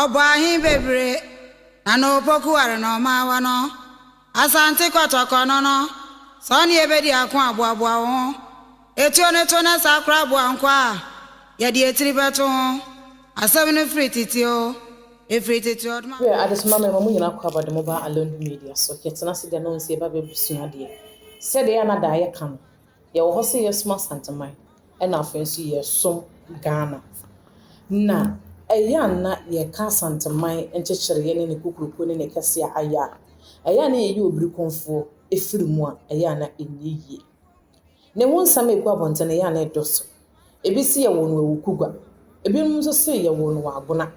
Ɔbɔ ahe bebree na na opoku ware na ɔma awa no. Asante kɔtɔkɔ no no, sɛ ɔne yɛ bɛdi ako a, boaboa wo ho. Etuo no to na saa koraa boa nkwa a yɛde etiri bɛto ho. Asɛm no firi tete oo, efiri tete oo dma. Hwɛ adesoma mmarima mo nyinaa kɔ aba de mo ba Alondu Media so, yɛtena ase de anonsi ɛba bɛsua adeɛ. Sɛdeɛ ɛyɛ a na daeɛ ka no, Yɛwɔ hɔ sɛ yɛsom Asanteman na afei nso yɛsom Ghana. Na ɛyɛ a na yɛka Asanteman nkyekyereɛ ne ne kokuroko ne ne kɛseɛ a ayɛ a, ɛyɛ a na yɛyɛ obirikonfoɔ firi mu a ɛyɛ a na ɛnyɛ yie. Ne ho nsɛm a ɛgu abɔnten no, ɛyɛ a na ɛdɔ so. Ebi se yɛwɔ no Awukugwa, ebinom nso se yɛwɔ no wɔ Agona.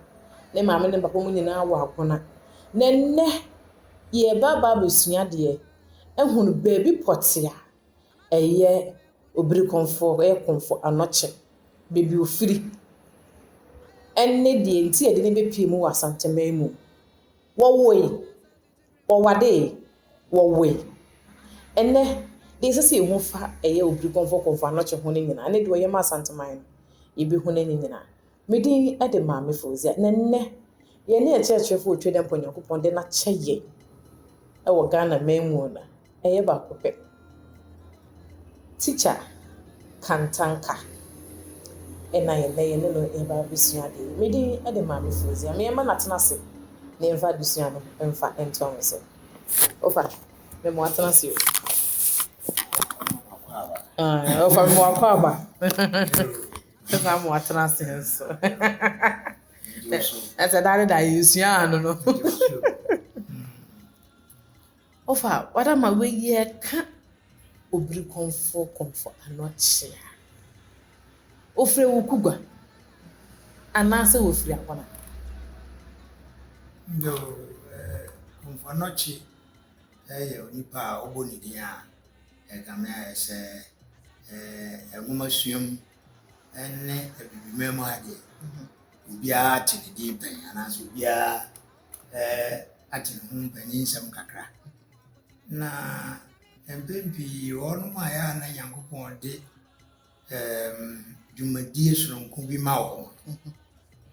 Ne maame ne me papa mu nyinaa wɔ Agona. Na ɛnnɛ yɛreba aba abɛsua adeɛ, ahunu baabi pɔtee a ɛyɛ obirikɔnfoɔ, ɔyɛ kɔnfoɔ anɔkye, baabi a ɔfiri, ɛne deɛ nti a yɛde no bɛpue mu wɔ Asanteman mu. Wɔwoe, wɔwadee, wɔwoe. Ɛnnɛ, deɛ ɛsɛ sɛ yɛhu fa ɛyɛ obirikɔnfoɔ, kɔnfoɔ anɔkye ho no nyinaa, ɛne deɛ ɔyɛ ma Asanteman no, yɛbɛhu no ne nyinaa. Me din de Maame Fauziah, na nnɛ yɛne akyerɛkyerɛfoɔ ɔtwa dɛ mpo Nyankopɔn de no akyɛ yɛn wɔ Ghana man mu no ɛyɛ baako pɛ. Tikya Kantanka na yɛnnɛ yɛne no yɛba abɛsua adeɛ yi. Me din de Maame Fauziah, me mma no atena ase na yɛmfa adesua no mfa ntoa ho so. Ofa, me mo atena ase o. Ofa, me mo akɔ aba. Ɛsɛ ama watena ase nso. Ɛsɛ daa ne daa yɛsua ano no. Ɔfa wada ma wei ɛka obiri kɔnfɔ kɔnfɔ ano kyea. Ofiri wo kugwa anaasɛ ofiri akɔna. Yo kɔnfɔ anɔkye ɛyɛ onipa a ɔbɔ ne din a Ɛkame ayɛ sɛ nwomasua mu ne Abibiman mu adeɛ, obiara te ne din pɛn anaasɛ obiara ate ne ho mpanyinsɛm kakra. Na mpɛn pii wɔnom a ɛyɛ a na Nyankopɔn de ɛɛm dwumadie sononko bi ma wɔn.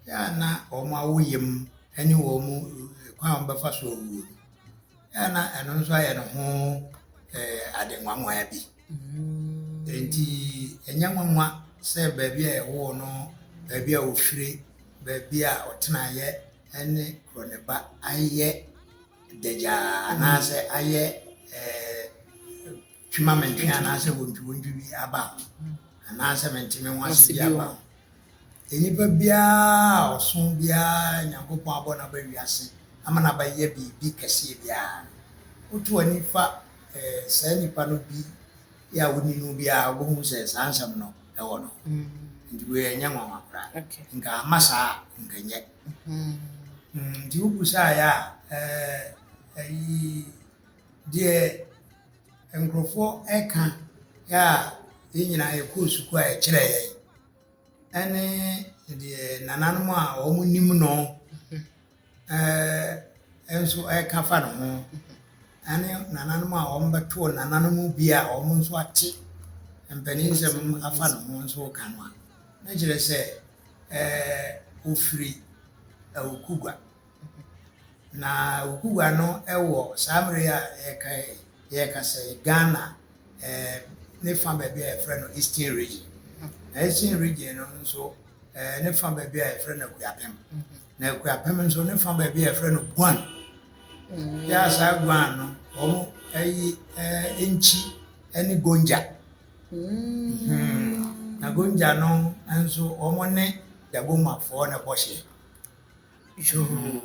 Yɛ a na wɔn awo yam ne wɔn kwan a wɔbɛfa so awuo no, yɛ a na ɛno nso ayɛ ne ho ɛɛ ade nwanwa bi. Nti ɛnyɛ nwanwa sɛ baabi a ɛwoo no, baabi a ɔfire, baabi a ɔtenaeɛ ne kuro ne ba ayɛ dagyaa anaasɛ ayɛ ɛɛ. twi ma mentwe anaasɛ wontwiwontwi bi aba ho anaasɛ mente me ho ase bi aba ho nnipa biara a ɔso biara nyankopɔn abɔ no aba wiase ama no abayɛ biribi kɛseɛ biara no woto ani fa eh, saa nnipa no bi yɛ a wonni no biara wobɛhu sɛ saa nsɛm no ɛwɔ no mm-hmm. nti wei ɛnyɛ nwanwa koraa nka ama saa nkanyɛ mm-hmm. mm, nti wobusaeɛ a eh, ɛyi deɛ nkurɔfoɔ ɛka yɛ a yɛn nyinaa yɛkɔɔ sukuu a ɛkyerɛ yɛn ɛne deɛ nananom a wɔn nim no ɛɛ nso ɛka fa ne ho ɛne nananom a wɔn bɛtoo nananom bi a wɔn nso ate mpanisɛm afa ne ho nso ka no a na kyerɛ sɛ ɛɛ ofiri awuku gua. Na Okuwa no wɔ saa mmerɛ yi a yɛreka yi yɛrekasa yi Ghana eh, ne fa baabi a yɛfrɛ no Eastern Region. Na Eastern Region no nso eh, ne fa baabi a yɛfrɛ no Akuapem. Na Akuapem nso ne fa baabi a yɛfrɛ no Guan. Mm. Yɛ a saa Guan no wɔn ayi eh, eh, nkyi ne Gonja. Mm. Hmm. Na Gonja no nso wɔn ne Dagomafoɔ na bɔhyɛ. Yoo,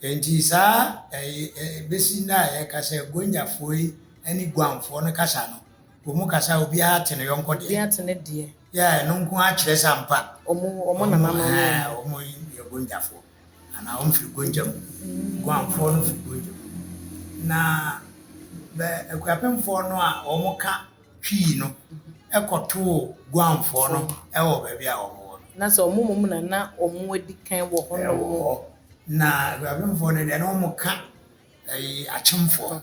enti saa besi nnɛ a yɛka sɛ Gonyafoɔ yi ne Guamfoɔ no kasa no, wɔn mu kasa a obiara te ne yɔnko deɛ. Obiara te ne deɛ. Yɛ ɛno nko ara kyerɛ sɛ ampa. Wɔn wɔn nananom. Wɔn yɛ Gonyafoɔ anaa wɔn firi Gonja mu. Guamfoɔ no firi Gonja mu. Na bɛ akuapemfoɔ no a wɔka pii no kɔtoo Guamfoɔ no wɔ baabi a wɔwɔ no. Na sɛ wɔn mmom na na wɔadi kan wɔ hɔnom. Wɔ hɔ. Na Aguabemfoɔ no deɛ, na wɔka ɛyi Akyemfoɔ.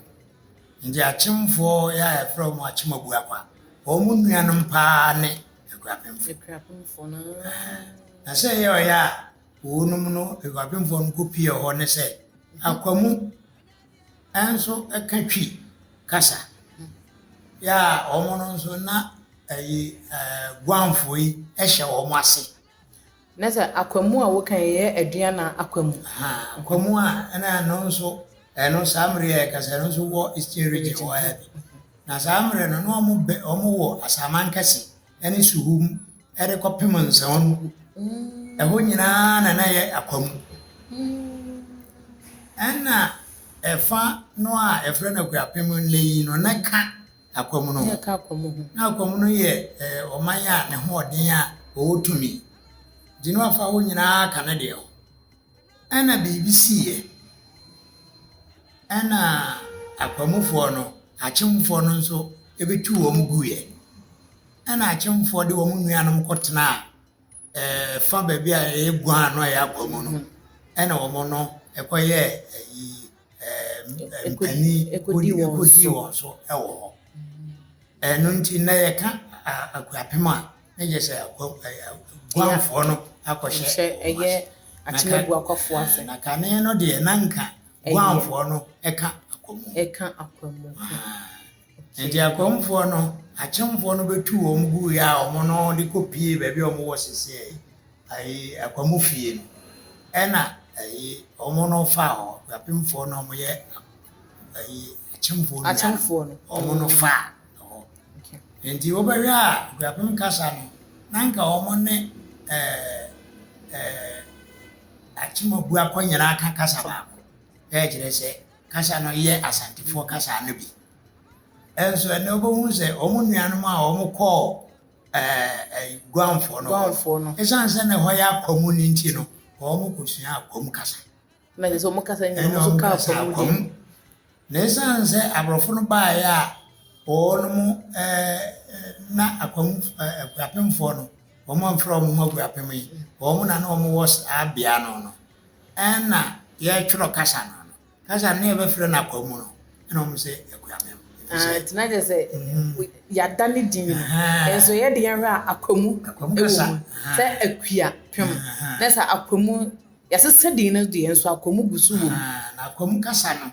Nti Akyemfoɔ yɛ a yɛfrɛ wɔn Akyemabuakwa. Wɔn nuanom paa ne Aguabemfoɔ. Aguabemfoɔ no. Na sɛ ɛyɛ ɔyɛ a wɔnom no Aguabemfoɔ no kɔpie hɔ ne sɛ, Akwamu, nso ka Twi kasa. Yɛ a wɔn no nso na ɛyi ɛɛ Guamfoɔ yi hyɛ wɔn ase. Na sɛ akwamu a woka yi yɛ aduan na akwamu. Akwamu a ɛna ɛno nso ɛno saa mmere yɛ kasa ɛno nso wɔ eastern region wɔ ha bi. Na saa mmere no na wɔn bɛ wɔn wɔ asaman kɛse ne Suhum de kɔpem Nsɔw no, ɛhɔ nyinaa na na ɛyɛ akwa mu. Ɛnna ɛfa no a ɛfrɛ no Akuapem nnɛ yi no, na ɛka akwa mu no ho. Na akwa mu no yɛ ɔman a ne hoɔden a wɔwɔ tumi. Nti na wɔafa hɔ nyinaa aka ne deɛ ho. Ɛna biribi siiɛ. Ɛna akwanmufoɔ no, akyemfoɔ no nso bɛtu wɔn guiɛ. Ɛna akyemfoɔ de wɔn nuanom kɔtenaa ɛɛ fa baabi a ɛyɛ guaa no a ɛyɛ akwa mu no. Ɛna wɔn no kɔyɛɛ ayi. ɛɛ mpanin kodi wɔn so wɔ hɔ. Ɛno nti na yɛka akuapem a na yɛ sɛ guanfoɔ no akɔhyɛ ɛyɛ akyemaguakɔfoɔ ase. Na kane no deɛ na nka guanfoɔ no ɛka akwamu. Ɛka akwamu. Enti akwamfoɔ no, akyemfoɔ no bɛtuu wɔn guiɛ a wɔn no de kɔ pie baabi a wɔn wɔ sese ɛyi, ɛyi akwamu fie no. Ɛna ɛyi wɔn no faa hɔ, apemfoɔ no wɔn yɛ ɛyi akyemfoɔ no akyemfoɔ no wɔn no faa hɔ. Enti wɔbɛhwɛ a guapem kasa no, na nka wɔn ne ɛɛ ɛɛ akyemabu akɔ nyinaa ka kasa baako. Ɛkyerɛ sɛ Kasa no yɛ Asantefoɔ kasa no bi. Nso ɛnɛ wobɛhu sɛ wɔn nuanom a wɔn kɔɔ Guamfoɔ no, ɛsiane sɛ na ɛhɔ yɛ akwamu no nti no, wɔn kɔsua akwam kasa. Na ɛsɛ sɛ wɔn kasa nyina wɔn so ka akwamu di. Na ɛsiane sɛ aborɔfo no baeɛ a wɔn mo na akwamu akuapemfoɔ no, wɔn amfrɛ wɔn mo akuapem yi, wɔn na na wɔn wɔ saa bea no no. nna yɛtwerɛ kasa no ano. Kasa no na yɛbɛfrɛ no akwa mu no, ɛna wɔn sɛ akuamem. Nti na kyerɛ sɛ yɛada ne din no, nso yɛde yɛn hwɛ a akwa mu wɔ mu sɛ akua pem. Na sɛ akwa mu yɛsesa din no deɛ nso akwa mu gu so wɔ mu. Na akwa mu kasa no,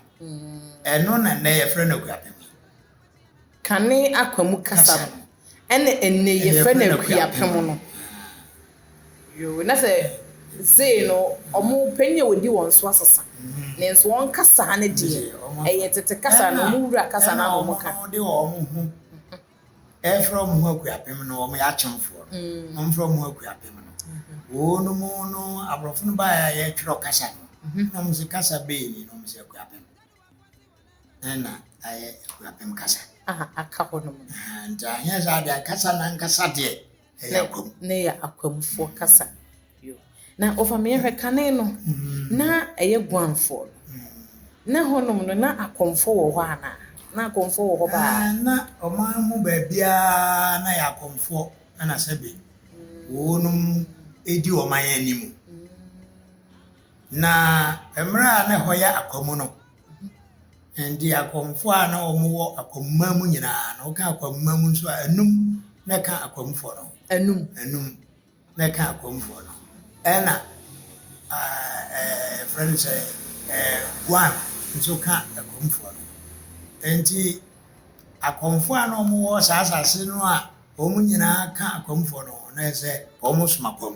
ɛno na nnɛ yɛfrɛ no akuapem. Kane Akwamu kasa no, ɛna ɛnnɛ yi yɛfrɛ no Akuapem no. Yoo, na sɛ sei no ɔmo panyin a odi wɔn so asesa. Nanso wɔn kasa no deɛ, ɛyɛ tete kasa no, ɔmo wura kasa no ara na ɔmo ka. Ɛna ɔmo de ɔmo ho ɛɛfrɛ ɔmo ho Akuapem no, ɔmo yɛ Akyemfoɔ no, na ɔmo frɛ ɔmo ho Akuapem no. Wɔnom no, aborɔfo no baeɛ a yɛɛtwerɛ kasa no, na ɔmo se kasa bee ni? Na ɔmo se Akuapem. ɛna ayɛ akuapem kasa a aka hɔ no mu nti anyɛ saa deɛ ankasa na ankasa deɛ ɛyɛ akwam na ɛyɛ akwamfoɔ kasa na ɔfameɛ hwɛ kane no mm. na ɛyɛ guanfoɔ mm. na hɔnom no na akɔmfoɔ wɔ hɔ anaa na akɔmfoɔ wɔ hɔ baa ah, na ɔman mu baabiara na yɛ akɔmfoɔ ɛna sɛbe mm. wɔnom ɛdi ɔman anim Na mmerɛ a na ɛhɔ yɛ akwamu no, ɛnde akwamfoɔ a na wɔn wɔ akwamuma mu nyinaa no, woka akwamuma mu nso a, anum na ɛka akwamfoɔ no. Anum. Anum na ɛka akwamfoɔ no. Ɛna ɛfrɛ no sɛ guan nso ka akwamfoɔ no. Ɛnti akwamfoɔ a na wɔn wɔ saa asase no a wɔn nyinaa ka akwamfoɔ no ho, na ɛsɛ wɔn som akwam.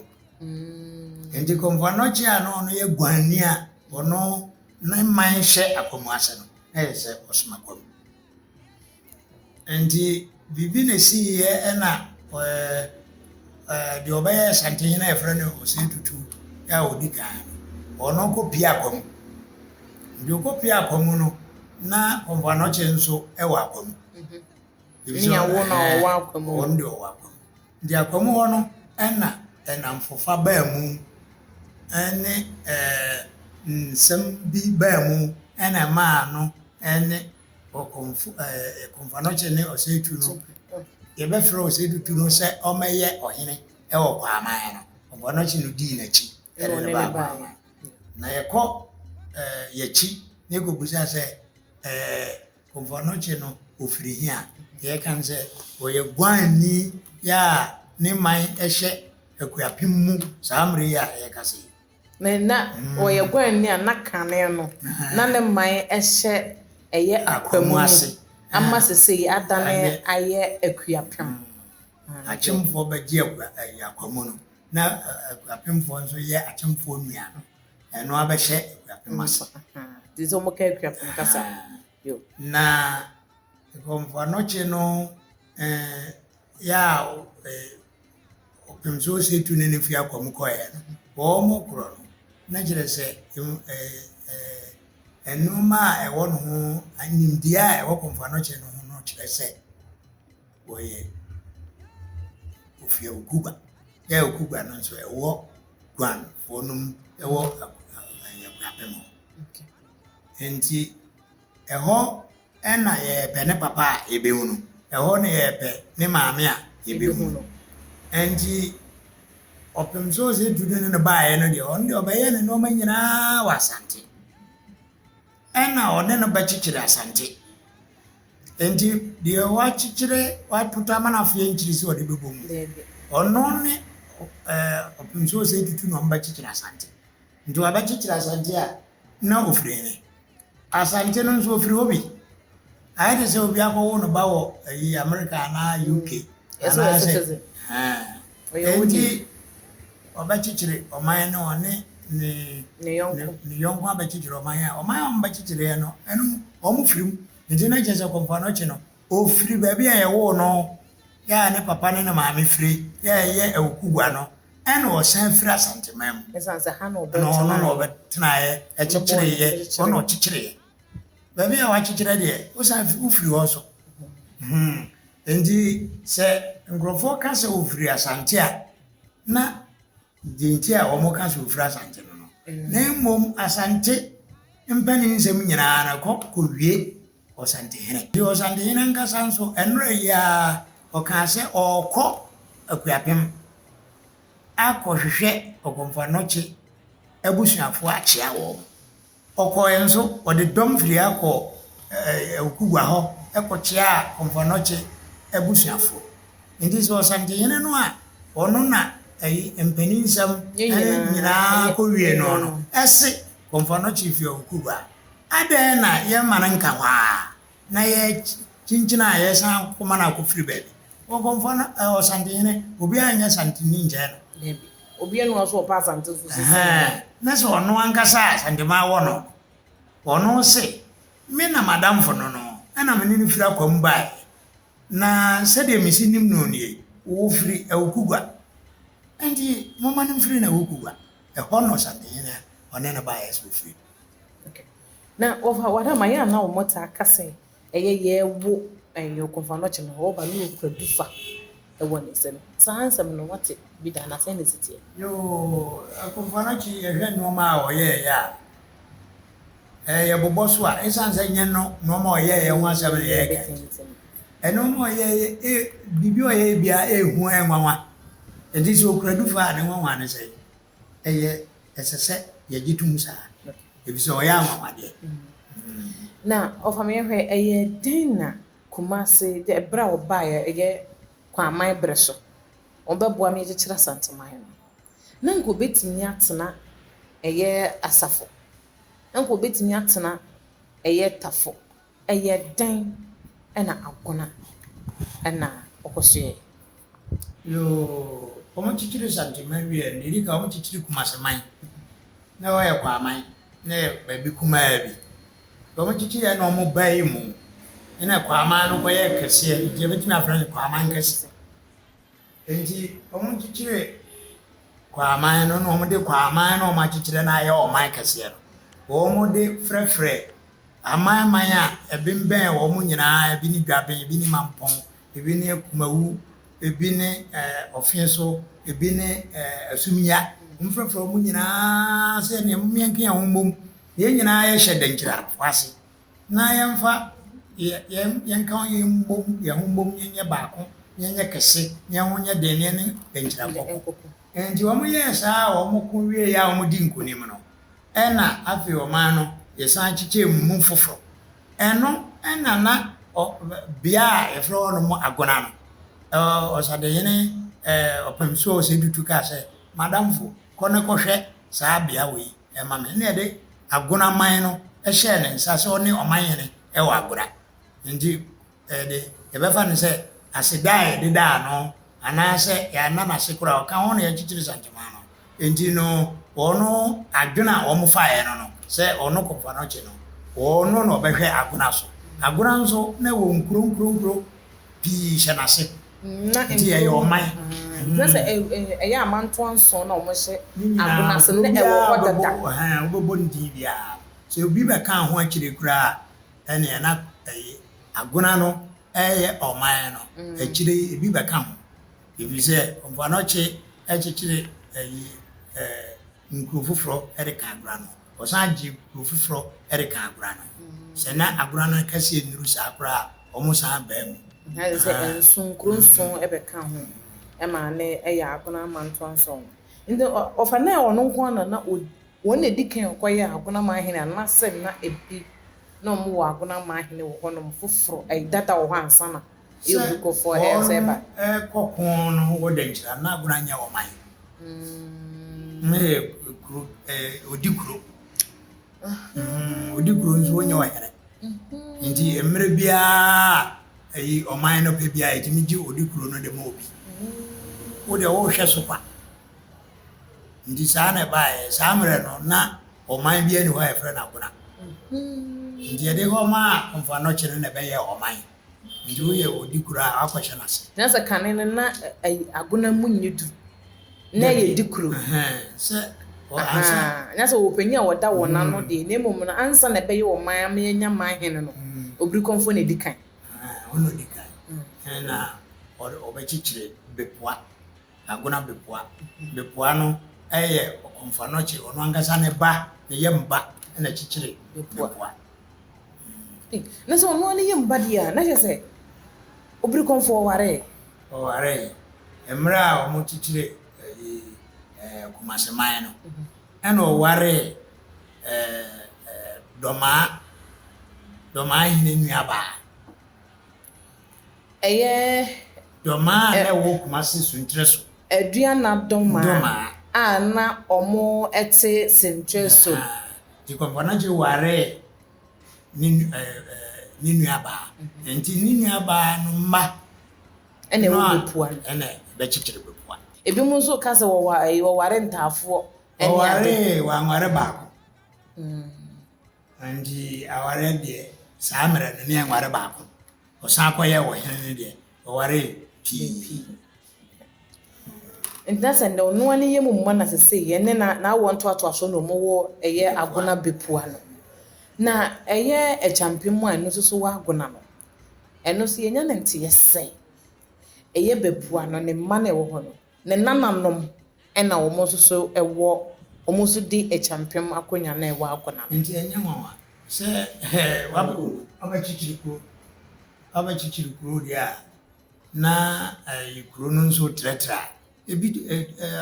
Enti Komfɔano kyerɛ a na ɔno yɛ guanni a ɔno ne man hyɛ akwamu ase no, na yɛ sɛ ɔsom akwamu. Enti biribi na ɛsiiɛ ɛna deɛ ɔbɛyɛ Asantehene a yɛfrɛ no Osei Tutu a ɔdi kan no, ɔno kɔpie akwamu. Nti ɔkɔpie akwamu no, na Komfɔano kye nso wɔ akwamu. Nyawo na ɔwɔ akwamu. Ɔno deɛ ɔwɔ akwamu. Gyakwa mu hɔ no na nnamfofa baa mu ne nsɛm bi baa mu na ɛmaa no ne Okomfo Komfo Anokye ne Osei Tutu no, yɛbɛfrɛ Osei Tutu no sɛ ɔmmɛyɛ ɔhene wɔ Kwaaman no, Komfo Anokye no dii n'akyi de no baa Kwaaman. Na yɛkɔ yɛakyi na yɛkɔbisa sɛ Ɔbɔnɔkye no ɔfiri he a? Deɛ ɛka ne sɛ, ɔyɛ guanni yi a ne man hyɛ akuapem mu saa mmerɛ yi a yɛrekasa yi. Na na ɔyɛ guanni a na kane no, na ne man hyɛ ɛyɛ akwa mu ase ama sesei adane ayɛ akuapem. Akyemfoɔ bɛgye akwa mu no, na akuapemfoɔ nso yɛ akyemfoɔ nua no. ɛno abɛhyɛ akuapem ase nti sɛ wɔka akuapem kasa na nkɔmfoanɔkye no eh, yɛ a eh, ɔpem sɛ ɔsɛ tu ne no fi akwa mu kɔeɛ no wɔwɔ mo korɔ no na kyerɛ sɛ nnoɔma a ɛwɔ no ho nimdeɛ a ɛwɔ kɔmfoanɔkye no ho no kyerɛ sɛ wɔyɛ ofia okuba yɛ okuba no nso ɛwɔ guan wɔnom wɔ aguabɛ mu. Nti ɛhɔ na yɛpɛ ne papa a yɛbɛhu no, ɛhɔ na yɛpɛ ne maame a yɛbɛhu no. Nti ɔpem so sɛ tu no ne no baeɛ no deɛ ɔno deɛ ɔbɛyɛ ne nneɛma nyinaa wɔ Asante. ɛna ɔne no bɛkyekyere Asante. Nti deɛ wakyekyere wapoto ama no afei nkyiri sɛ ɔde bɛbɔ mu. Ɔno ne ɔpemsuo sɛ tutu na ɔmbɛkyekyere Asante. Nti wabɛkyekyere Asante a na ɔfiri he? Asante no nso ɔfiri hɔ bi. Ayɛ te sɛ obi akɔwo no ba wɔ ayi America anaa UK anaasɛ enti ɔbɛkyekyere ɔman no ɔne ne ne yɔnko abɛkyekyere ɔman a ɔman a ɔmbɛkyekyereɛ no ɛno ɔmo firim nti na kyerɛ sɛ kɔmpa no kye no ɔfiri baabi a yɛwoo no yɛ a ne papa ne ne maame firi yɛ a ɛyɛ awokugua no ɛna ɔsan firi asanteman mu ɛna ɔno na ɔbɛtenaeɛ ɛkyekyereeɛ ɔna ɔkyekyereeɛ baabi a wɔakyekyerɛ deɛ, wosan fi wofiri hɔ nso. Hmm. Enti sɛ nkurɔfoɔ ka sɛ wɔfiri Asante a, na deɛ nti a wɔka sɛ wɔfiri Asante no no, na mmom Asante mpanin nsɛm nyinaa na kɔ kɔwie Ɔsantehene. Nti Ɔsantehene ankasa nso, ɛnora yi ara ɔkaa sɛ ɔrekɔ Akuapem akɔhwehwɛ Ɔgɔmfanɔkye abusuafoɔ akyea wɔn. Ɔkɔɔe nso, ɔde dɔm firii ha kɔɔ Okugua hɔ kɔkyeaa Komfɔnɔkye abusuafoɔ. Nti sɛ Ɔsantehene no a ɔno na ayi mpaninsɛm nyinaa kɔwie noɔ no se Komfɔnɔkye firi Okugua a, adɛn na yɛmma no nka hɔ ara? na yɛkyinkyina a yɛsan kɔ ma no akɔfiri baabi. Wɔkɔmfa no ɛ, Ɔsantehene, obiara nyɛ Santeni nkyɛn no. Dabi. Obiara nni hɔ sɛ ɔpɛ Asante so sɛ sɛdeɛ Ɛhɛɛ, ɔyɛ. na sɛ ɔno ankasa a Santemaa wɔ no no, ɔno se, Me na m'adamfo no no, ɛna me ne no firi akwa mu baeɛ, na sɛdeɛ mesi nim no nie, ɔfiri Awukugua. Enti momma no mfiri n'Awukugua. Ɛhɔ na Ɔsantehene a ɔne no baeɛ se ɔfiri no. Okay. Na wɔfa wɔn a ma yɛ a na wɔn taa ka sɛ ɛyɛ yɛɛwo ɛyɛ kɔnfa no ɔkyɛ no hɔ ɔba no ɔkura du fa ɛwɔ ne nsam saa nsɛm no wɔte bi da na sɛn na ɛsi teɛ. Yoo kɔnfa no ɔkye yɛ hwɛ nnoɔma a ɔyɛɛ yɛ a ɛɛ yɛ bobɔ so a ɛsan sɛ nyɛ no nnoɔma a ɔyɛɛ yɛ ho asɛm na yɛ ka nti ɛnoɔma a ɔyɛɛ yɛ ee biribi a ɔyɛɛ yɛ biara ee hu ɛɛ nwanwa nti sɛ ɔkura du fa a ne nwanwa ne sɛn ɛyɛ ɛsɛ sɛ yɛgye to mu saa efisɛ ɔyɛ anwanwadeɛ. Na ɔfa me hwɛ ɛyɛ dɛn na Kumasi de ɛberɛ a ɔbaeɛ ɛyɛ Kwaaman berɛ so ɔbɛboa me akyekyere Asanteman no na nka ɔbɛtumi atena ɛyɛ Asafo na nka ɔbɛtumi atena ɛyɛ Tafo. Ɛyɛ dɛn na Agona na ɔkɔ so yɛe? Yoo, wɔn kyekyere Santi man wie a, nea edi kan wɔn kyekyere Kumasi man. Na wɔyɛ Kwaman, na ɛyɛ baabi kumaa bi. Deɛ wɔn kyekyere yɛ na wɔn bae mu, ɛna Kwaman no kɔ yɛɛ kɛseɛ, nti yɛbɛtumi afrɛ no Kwaman kɛse. Enti wɔkyekyere Kwaman no na wɔde Kwaman no a wɔakyekyere no ayɛ ɔman kɛseɛ no, wɔde frɛfrɛ amanman a ɛbembɛn wɔn nyinaa, ebi ne Dwaben, ebi ne Mampɔn, ebi ne Kumawu, ebi ne eh, Ɔfenso, ebi ne eh, Asumia. Wɔfrɛfrɛ wɔn nyinaa sɛ nea momeɛnke yɛn ho mmom, na yɛn nyinaa yɛhyɛ dankyira ase. na yɛmfa yɛn yɛn ka ho yɛn mbom yɛn ho mbom yɛnyɛ baako na yɛnyɛ kɛse na yɛn ho nyɛ den na yɛne bɛnkyerɛ nkɔko nti wɔn yɛɛ saa a wɔn ko wie yɛ a wɔn di nkunim no ɛna afei ɔman no yɛsan kyekyɛ mu foforɔ ɛno ɛna na ɔ bea a yɛfrɛ hɔ nom agona no ɛɛ ɔsadehene ɛɛ ɔpɛmsoɔ ɔsɛ dutu kaa sɛ madamfo kɔ ne kɔhwɛ saa bea wei. ma me, ɛnna yɛde Agona man no hyɛɛ ne nsa sɛ ɔne ɔman hene wɔ Agora. Nti ɛde yɛbɛfa no sɛ aseda a yɛde daa no anaasɛ yɛanna no ase koraa ɔka ho na yɛakyekyere Santemaa no. Nti no wɔn adwene a wɔfaeɛ no no sɛ ɔno Kɔmfoanɔkye no ɔno na ɔbɛhwɛ Agona so. Agona nso na ɛwɔ nkuro nkuro nkuro. pii hyɛ n'ase. Na nti ɛyɛ ɔman. Kyerɛ sɛ ɛyɛ amantoa nson na wɔhyɛ agona ase na ɛwɔ hɔ dada. Wobɛbɔ ne din biara. Sɛ obi bɛkaa ho akyire koraa a, ɛnneɛ na ɛyɛ agona no yɛ ɔman no. Akyire yi, ebi bɛka ho. Ɛfiri sɛ Mpoano kye kyekyere nkuro foforɔ de ka agona no ho. wɔsan gye kurow foforɔ de ka agora no ho. Sɛ na agora no akɛseɛ nnuru saa koraa a, wɔsan baa mu. Ayɛ sɛ nson, nkuro nson bɛka ho maa no yɛ Agona Amantoa nson. Nti wɔfa no sɛ ɔno nko ara na ɔdi, wɔn na ɛdi kan kɔyɛɛ Agona Amanhene anaasɛ na ɛbi na wɔwɔ Agona Amanhene wɔ hɔnom foforɔ, ɛyɛ dada wɔ hɔ ansa na Sɛ wɔrekɔ ko no wɔ Dankyira no, na Agona nyɛ ɔman. Na ɛyɛ kuro, ɔdi kuro. Ɔdi kuro nso ɔnyɛ ɔhene. Nti mmerɛ biara yi ɔman no pɛ biara ɛtumi gye ɔdi kuro no de ma obi. Wo deɛ wohwɛ so kwa. Nti saa na ɛbaeɛ. Saa mmerɛ no na ɔman biara ni hɔ a yɛfrɛ no Agona. Nti ɛde hɔ maa Komfo Anɔkye no na ɛbɛyɛɛ ɔman. Nti woyɛ odi koro a akɔhyɛ no ase. Na sɛ kane no na ayi agona mu nyɛ duru na ɛyɛ di koro. Sɛ ansa. Na sɛ wɔwɔ panyin a wɔda wɔn ano deɛ na mmom no ansa na ɛbɛyɛ ɔman ama yɛanya man hene no obirikɔmfoɔ na ɛdi kan. Ɔno na ɔdi kan na ɔbɛkyekyere bepoa. Agona Bepoa. Bepoa no yɛ Ɔmfanɔkye, ɔno ankasa ne ba, ne yam ba na kyekyere Bepoa. Eh, na sɛ ɔno ara ne yam ba deɛ a, na kyerɛ sɛ Obirikɔmfoɔ waree. Ɔwaree. Mmerɛ a wɔkyekyere ɛyi ɛɛ Kumase man no, ɛna ɔwaree ɛɛ ɛɛ Dɔmaa, Dɔmaa hene nuabaa. ɛyɛ. Domaa a na ɛwɔ Kumasi Sunkyerɛ so. Aduana Domaa a na wɔte Sunkyerɛ so. Nti Kɔmpɔnakye waree ne ne nuabaa. Nti ne nuabaa no mma. Ɛna ɛwɔ Bepua. Ɛna ɛbɛkyekyere Bepua. Ebinom nso ka sɛ wɔware ntaafoɔ. Wɔwaree, wɔanware baako. Ntsi awaryɛ deɛ saa mberɛ no ne yɛnnware baako, ɔsan kɔyɛɛ wɔ hen no deɛ ɔwaree pii. Ntsi na sɛ ndɛ ɔnoa ne yamu mma na sesei yɛne na n'awɔ ntoatoaso no ɔmo wɔ ɛyɛ Agona Bepua no. Na ɛyɛ Akyampe mu a ɛno so so wɔ Agona no, ɛno so yɛnya ne nteyɛ sɛ ɛyɛ Bepua no ne mma na ɛwɔ hɔ no. ne nananom na wɔn nso so wɔ, wɔn nso di Acheampem akonnwa no a ɛwɔ Akonam. Nti ɛnyɛ nwanwa sɛ wabɛkɔ abɛkyekyere kuro, abɛkyekyere kuro deɛ a na ɛyɛ kuro no nso trɛtrɛ a, ebi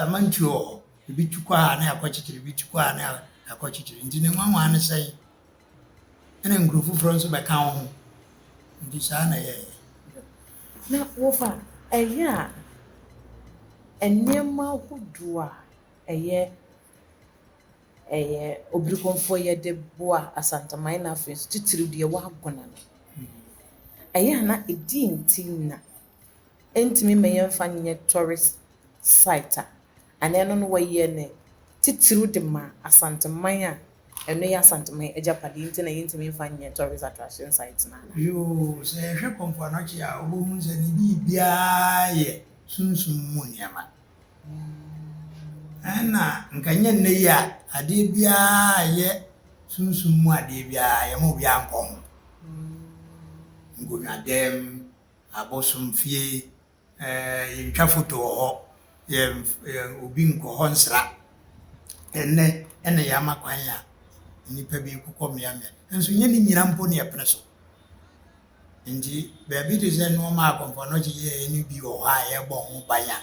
amantuo wɔ hɔ, ebi tu kɔ ha na yɛakɔkyekyere, ebi tu kɔ ha na yɛakɔkyekyere, nti ne nwanwa ne sɛn? ɛna nkuro foforɔ nso bɛka wo ho nti saa na yɛyɛ na wofa ɛyɛ a nneɛma ahodoɔ a ɛyɛ ɛyɛ obirikɔnfoɔ yɛde boa asantaman na afei nso titiriw deɛ ɛwɔ agona no ɛyɛ a na ɛdeɛn nti na Ɛntumi mma yɛmfa no nyɛ tourist site a anaa ɛno no wɔyɛ no titiriw de ma Asanteman a ɛno yɛ Asanteman agyapadeɛ nti na yɛntumi mfa no nyɛ tourist attraction site no anaa? Yoo, sɛ yɛhwɛ kɔ mpoano kyee a wobɛhunu sɛ ne biribiara yɛ sunsum mu nneɛma. Ɛna nka nyɛ nnɛ yi a adeɛ biara a ɛyɛ sunsum mu adeɛ biara yɛma obiara nkɔ ho. Nkonnwadɛm, abosomfie, yɛntwa foto wɔ hɔ, obi nkɔ hɔ nsra. Ɛnnɛ na yɛama kwan a nnipa bi rekɔ mmeaemmeae, nanso nyɛ ne nyinaa mpo na yɛpene so. Nti baabi te sɛ nneɛma a Kɔmfɔ Anokye yɛeɛ no bi wɔ hɔ a yɛbɔ ho ban a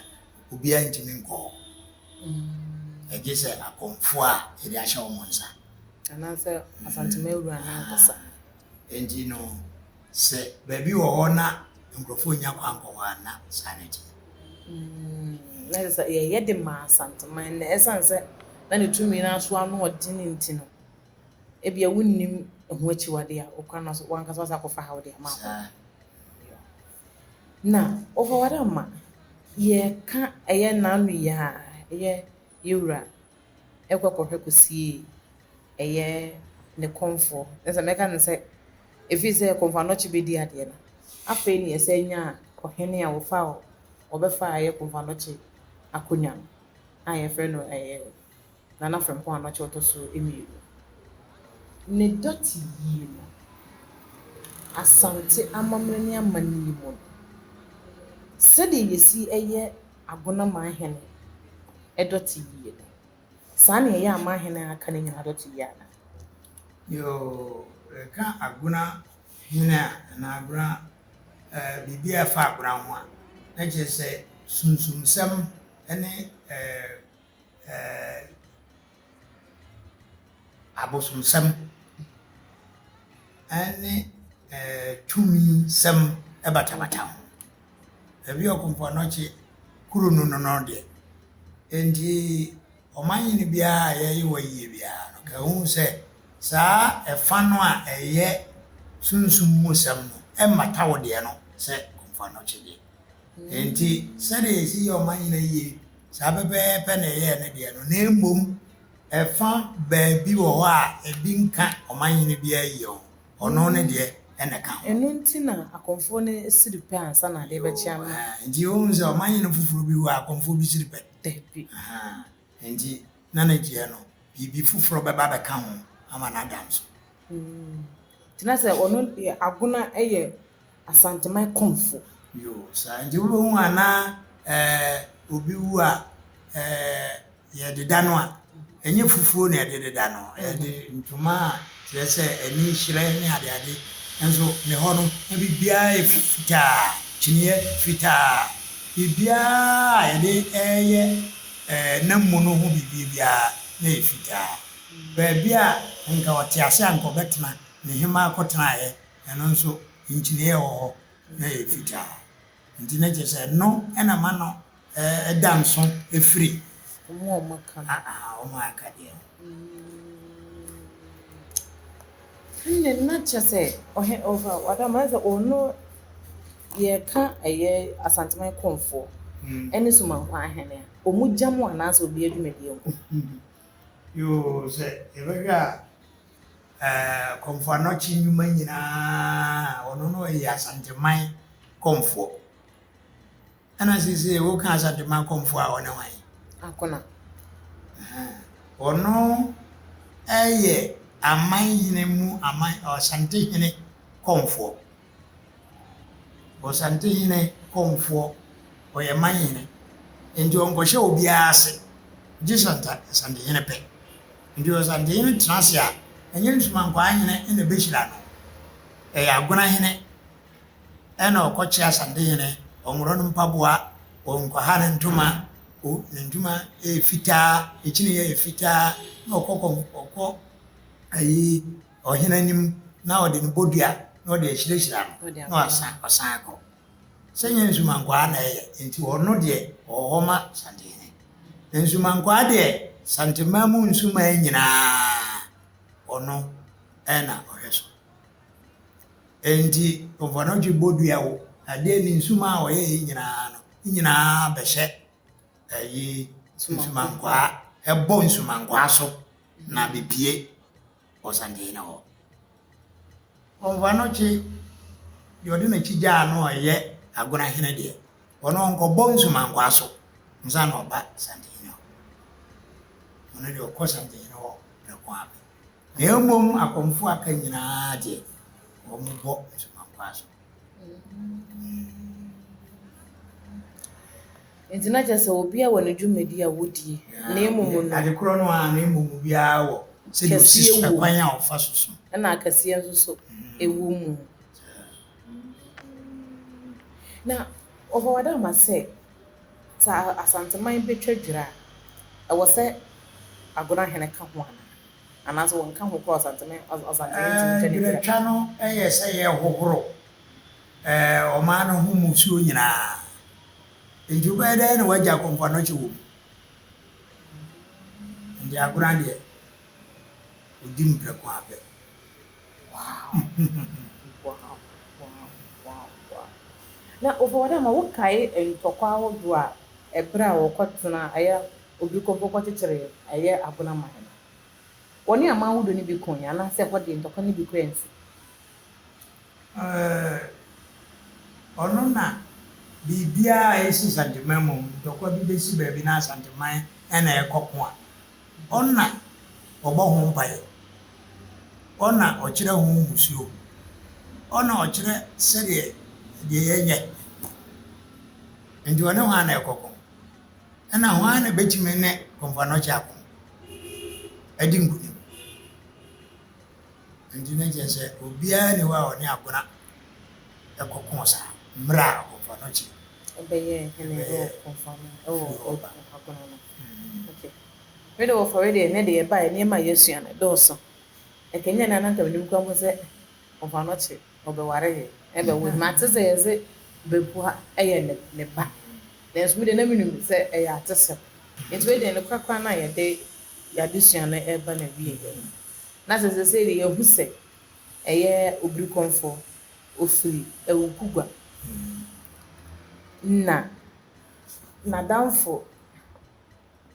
obiara ntumi nkɔ hɔ. Ɛgye sɛ akɔmfoɔ a yɛde ahyɛ wɔn nsa. Anaasɛ Asantuma awura no ankasa. Nti no Sɛ baabi wɔ hɔ na nkurɔfoɔ nnya kwan nkɔ hɔ a, na saa na ɛteɛ. Mm, na ɛsɛ yɛyɛ de ma Asanteman na ɛsan sɛ na ne tumi no aso ano ɔden nti no, ebia wonnim ɛho akyiwade a ɔkwan no so wankasa wasa akɔfa ha ɔde ama akɔ. Na ɔfa wade ama yɛka ɛyɛ n'ano yi a ɛyɛ yɛwura ɛkɔ kɔhwɛ kɔsie ɛyɛ ne kɔmfoɔ ne sɛ mɛka ne sɛ ɛfiri sɛ kɔmfoɔ anɔkye bɛdi adeɛ no afei ne yɛsɛ nya ɔhene a wɔfa wɔbɛfa ɛyɛ kɔmfoɔ anɔkye akonnwa no a yɛfrɛ no ɛyɛ Nana Frempong Anɔkye ɔtɔ so mmienu ne dɔte yie no Asante amammerɛ ne amannie mu no sɛdeɛ yɛsi ɛyɛ. Agona Manhene dɔte yie no. Saa na ɛyɛ a Manhene a aka no nyinaa dɔte yie anaa? Yoo, yɛka Agona hene a, anaa Agona, ɛɛ, biribi a ɛfa Agona ho a, na kyerɛ sɛ sunsumsɛm ne, ɛɛ, ɛɛ, abosomsɛm ne tumisɛm batabata ho. Baabi a Okomfo Anokye kuro no no no deɛ, enti ɔmannyene biara a yɛyɛ wɔ ayie biara no, nka ɛhu sɛ saa ɛfa no a ɛyɛ sunsum mu sɛm no mmata wo deɛ no sɛ Okomfo Anokye deɛ. Enti, sɛnea yesi yɛ ɔman nyinaa yiye saa pɛpɛɛpɛ na yɛyɛɛ ne deɛ no, na mmom ɛfã baabi wɔ hɔ a ebi nka ɔman hene biara yiye ho, ɔno ne deɛ na ɛka ho. Ɛno nti na akɔmfoɔ no siri pɛ ansa na adeɛ bɛkyea no. Ɛhã, enti yɛbɛhu sɛ ɔman hene foforo bi hɔ a akɔmfoɔ bi siri pɛ? Dabi. Ɛhã, enti na ne deɛ no biribi foforɔ bɛba abɛka ho ama no ada nso. Enti na sɛ ɔno deɛ agono a ɛyɛ. Asanteman Komfo. Yoo saa nti wo bɛ hu a na ɛɛ obi wu a ɛɛ yɛ de da no a ɛnyɛ fufuo na yɛde de da no yɛ de ntoma a kyerɛ sɛ ɛni hyerɛn ne ade ade nso ne hɔ no na biribiara yɛ fitaa kyiniɛ fitaa biribiara a yɛde ɛɛyɛ ɛɛ nam mu no ho biribi biara na yɛ fitaa baabi a nka ɔte ase a nka ɔbɛtena ne hemaa kɔ tena yɛ Ɛno nso, nkyene a ɛwɔ hɔ no yɛ fitaa, nti na kyerɛ sɛ ɛno na ɛma no da nso firi wɔn a aka deɛ ho. Ɛnna na kyerɛ sɛ ɔhe ɔfa wadam ayɛ sɛ ɔno yɛka ɛyɛ Asanteman Komfoɔ ɛne Somankwa ahene a wɔn gya mu anaasɛ obi adwumadie ho. Yoo sɛ yɛbɛhwɛ a. ɛɛ Komfo-Anokye nnwuma nyinaa, ɔno no ɔyɛ Asanteman Komfoɔ. Ɛna sese woka Asanteman Komfoɔ a ɔne hwan? Akona. Ɔno ɛyɛ aman hene mu aman Asante hene Komfoɔ. Ɔsantehene kɔmfoɔ, ɔyɛ manhene. Enti ɔnkɔhyɛ obiara ase, gye Asantehene pɛ. Enti Ɔsantehene tena ase a, ɛnyɛ Nsumankwaa hene na ɛbɛhyira no. Ɛyɛ Agona hene na ɔkɔkyɛ Asantehene, ɔnworɔ no mpaboa, ɔnkwaha ne ntoma, o ne ntoma yɛ fitaa, ne kyiniiɛ yɛ fitaa, na ɔkɔ kɔm ɔkɔ ayi ɔhene anim na ɔde ne bodua na ɔde ahyirahyira no na wasan ɔsan akɔ sɛ nyɛ nsumankwaa na ɛyɛ nti ɔno deɛ ɔwɔ hɔ ma santehene na nsumankwaa deɛ santemaa mu nsumaa nyinaa ɔno ɛna ɔhwɛ so nti ɔfɔnɔtwe bodua wo adeɛ ne nsumaa ɔyɛ yi nyinaa no nyinaa bɛhyɛ ɛyi nsumankwaa ɛbɔ nsumankwaa so na bepie ɔsan gyina hɔ. Ɔmmfa no kye deɛ ɔde n'akyi gyaa no a ɔyɛ Agonahene deɛ, ɔno ɔnkɔbɔ nsumankwaa so ansa na ɔba Santenhene hɔ. Ɔno deɛ ɔkɔ Santenhene hɔ prɛko ara pɛ. Na mmom akɔmfoɔ a aka nyinaa deɛ, wɔbɔ nsumankwaa so. Nti na kyerɛ sɛ obiara wɔ ne dwumadi a wodi, na mmom no. Ade koro no ara, na mmom obiara wɔ sɛdeɛ ɔsi so, ɛkwan a ɔfa so so. Ɛna akɛseɛ nso so wɔ mu. Na ɔbɔ wada ama sɛ, sɛ Asanteman bɛtwa dwira a, ɛwɔ sɛ Agona hene ka ho anaa? Berɛtwa no yɛ sɛ yɛrehohoro ɔman no ho mmusuo nyinaa. Nti wobɛyɛ dɛn na woagya akɔmpanɔkye wɔ mu? Nti Agorah deɛ, ɔdi no prɛko ara pɛ. obi kɔ hɔ kɔkyekyere ɛyɛ abona ma hɛn. Wɔne aman ahodoɔ no bi koeɛ anaasɛ ɛhɔ deɛ ntɔkwa no bi kɔ ansi? Ɛɛ, ɔno na biribiara a ɛsi Santeman mu, ntɔkwa bi bɛsi baabi na Asanteman na ɛrekɔko a, ɔna ɔbɔ ho mpaeɛ, ɔna ɔkyerɛ ho mmusuo, ɔna ɔkyerɛ sɛdeɛ deɛ yɛnyɛ. Nti ɔne hwan na ɛrekɔko? Ɛnna hwan na ebetumi ne Komfo-Anokye ako adi nkonim? Enti na kyerɛ sɛ obiara nni hɔ a ɔne Agona kɔkoo saa mmerɛ a Komfo-Anokye bɛyɛɛ hene wɔ Firi Hɔba. Agona no. Okay. Me de wɔfɔre deɛ ɛnɛ deɛ ɛbaeɛ nneɛma a yɛasua no dɔɔso. Ɛkanyan a na anka menim koraa mpo sɛ Ɔbɔnɔkye ɔbɛware yɛ na ɛbɛwo yɛ. Mate sɛ yɛse Bepua yɛ ne ba nanso me deɛ na menim sɛ ɛyɛ atesɛm. Nti wei deɛ nokorɛ koraa na yɛde yɛadesua no reba n'awieɛ no. Na sɛ seesei deɛ yɛahu sɛ ɛyɛ Obirikɔmfoɔ, ɔfiri Awukugua. Na n'adamfo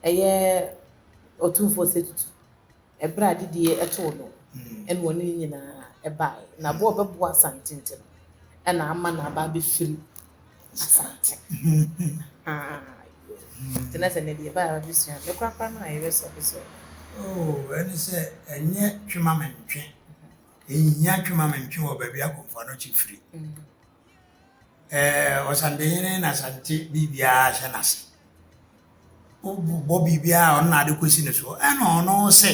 yɛ Ɔtumfoɔ Sɛ Tutu. Ɛberɛ a adidie too no ɛna ɔne ne nyinaa baeɛ. Na bɔ a ɔbɛboa Asante nti no ɛna ama no aba abɛfiri Asante. Ahaa yoo. Nti na sɛ ɛnnɛ deɛ ɛbaeɛ a abɛsua me korakora no a yɛbɛ sɔre sɔre. Oo ɛne sɛ ɛnyɛ twe ma me ntwe. Ɛnhia twe ma me ntwe wɔ baabi a Komfo Anokye firi. eh, ɔsantehene na sante biribiara hyɛ n'ase wobɔ biribiara a ɔno na ade kɔsi ne soɔ ɛna ɔno se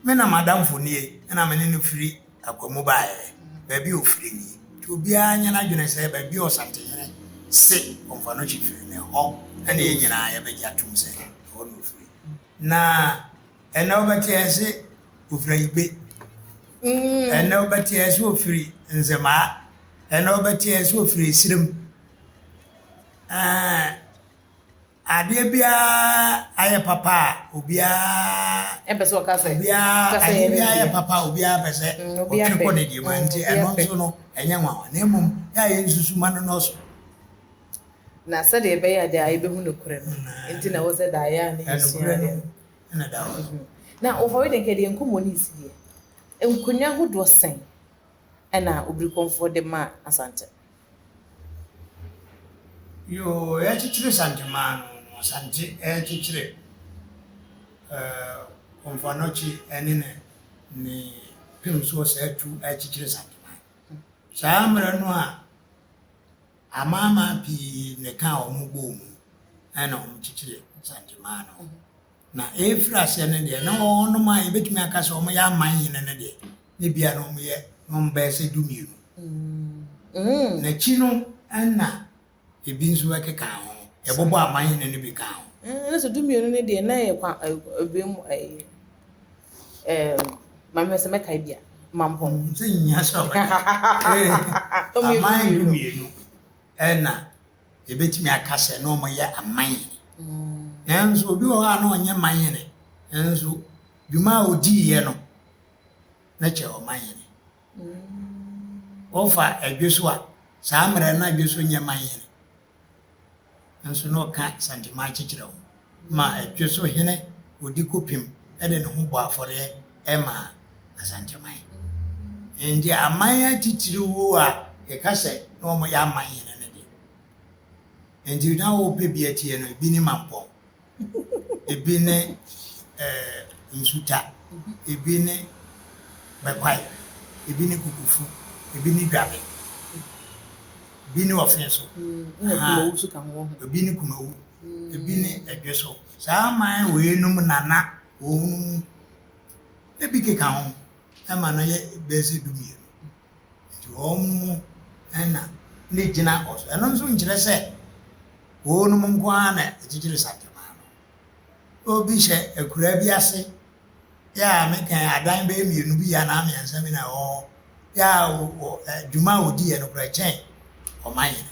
me na madamfo nie ɛna me ne no firi akwamu baeɛ baabi ɔfiri nie nti obiara nyɛ no adwene sɛ baabi ɔsantehene se ɔmfa no kyi firi ne hɔ ɛne yɛ nyinaa yɛbɛgye atom sɛ ɛhɔ na ɔfiri na Ɛnna ɔbɛteɛɛ se ofiri ayigbe. Ɛnna ɔbɛteɛɛ se ofiri nzemaa. Ɛnna ɔbɛteɛɛ se ofiri esirem. Ɛɛ adeɛ biara ayɛ papa a obiara ɛmpɛ sɛ ɔka sɛ obiara adeɛ biara ayɛ papa a obiara pɛ sɛ ɔtwere kɔ ne deɛ mu nti ɛno nso no ɛnyɛ nwanwa na mmom yɛ a yɛn nsusuma no nɔɔso na sɛdeɛ ɛbɛyɛ a daa yɛbɛhu nokorɛ no nti na ɛwɔ sɛ daa yɛ a ne yɛsua adeɛ no na da hɔ. Na wɔfɔre de nka deɛ nkɔmmɔ no nsi deɛ, nkonnwa ahodoɔ sɛn na Obirikɔmfoɔ de maa Asante? Yoo, yɛkyekyere Santemaa no, Asante rekyekyere Komfoanɔkye ne ne ne pem soɔ saa tu rekyekyere Santemaa. Saa mmerɛ no a Amanaman pii na ɛkaa wɔn bɔɔ mu na wɔkyekyeree Nsangyemaa no. Na ɛrefiri aseɛ no deɛ, na wɔnom a yɛbɛtumi aka sɛ wɔyɛ aman hene no deɛ, na ebia na wɔyɛ na wɔbɛyɛ sɛ dumienu. Na akyi no na ebi nso bɛkeka ho, yɛbobɔ aman hene no bi kaa ho. Ɛna sɛ dumienu no deɛ, na ɛyɛ kwa, ɛbɛn mu ɛyɛ. eh, maame hwɛ sɛ mɛkae bi a mampɔn sɛ nyia sɛ aman no mmienu ɛna yɛbɛtumi aka sɛ na ɔmɔyɛ aman yene nanso obi wɔ hɔ a na ɔnyɛ man yene nanso dwuma a ɔdiiɛ no na kyɛ ɔman yene wɔfa adwe so a saa mmerɛ no adwe so nyɛ man yene nso na ɔka Santiman kyekyerɛ ho ma ɛdwe so hene odi kopim de ne ho bɔ afɔreɛ ma Asanteman. Enti aman atitiriw a yɛka sɛ na wɔyɛ aman hene no de, enti na wɔpɛ bi atie no, ebi ne Mampɔn, ebi ne nsuta, ebi ne bɛkwae, ebi ne kukufu, ebi ne dwabe, ebi ne ɔfe so, ebi ne kumawu, ebi ne ɛdwe so. Saa aman wei nom nana wɔn mu ebi keka ho ɛma no yɛ bɛsi dumienu. Nti wɔn mu na ne gyina hɔ. So ɛno nso nkyerɛ sɛ wɔnom nko ara na ɛkyekyere Sapema no? Obi hyɛ akuraa bi ase yɛ a ne kan adan bɛyɛ mmienu bi anaa mmiɛnsa bi na ɛwɔ hɔ yɛ a dwuma a wɔdiiɛ no koraa kyɛn ɔman hene.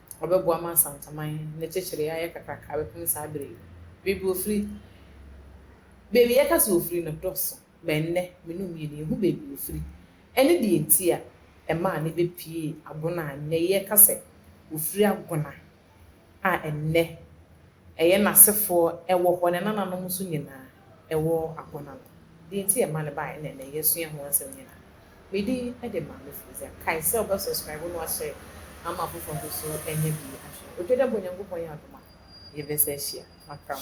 ɔbɛboa ma Nsantaman ne kyekyeree ayɛ kakraka bɛpem saa bere yi. Baabi ofiri, Baabi yɛka sɛ ofiri no dɔɔso ma ɛnnɛ me ne omienu yehu baabi ofiri. Ɛne deɛ nti a ɛmaa ne bɛ piee Agona a nnɛ yɛka sɛ ofiri Agona a ɛnnɛ Ɛyɛ n'asefoɔ, ɛwɔ hɔ, ne nananom nso nyinaa, ɛwɔ agona no. Deɛ nti yɛma no baeɛ ne ɛnnɛ yɛsua ho nsɛm nyinaa. Me din de Maame Frezia. Kae sɛ wobɛ subscribe na wahyɛ ama afoforɔ nso so anya bi ahwɛ. Otwa dɛ bɔ Nyankopɔn yɛ adom a, yɛbɛsan ahyia. Makram.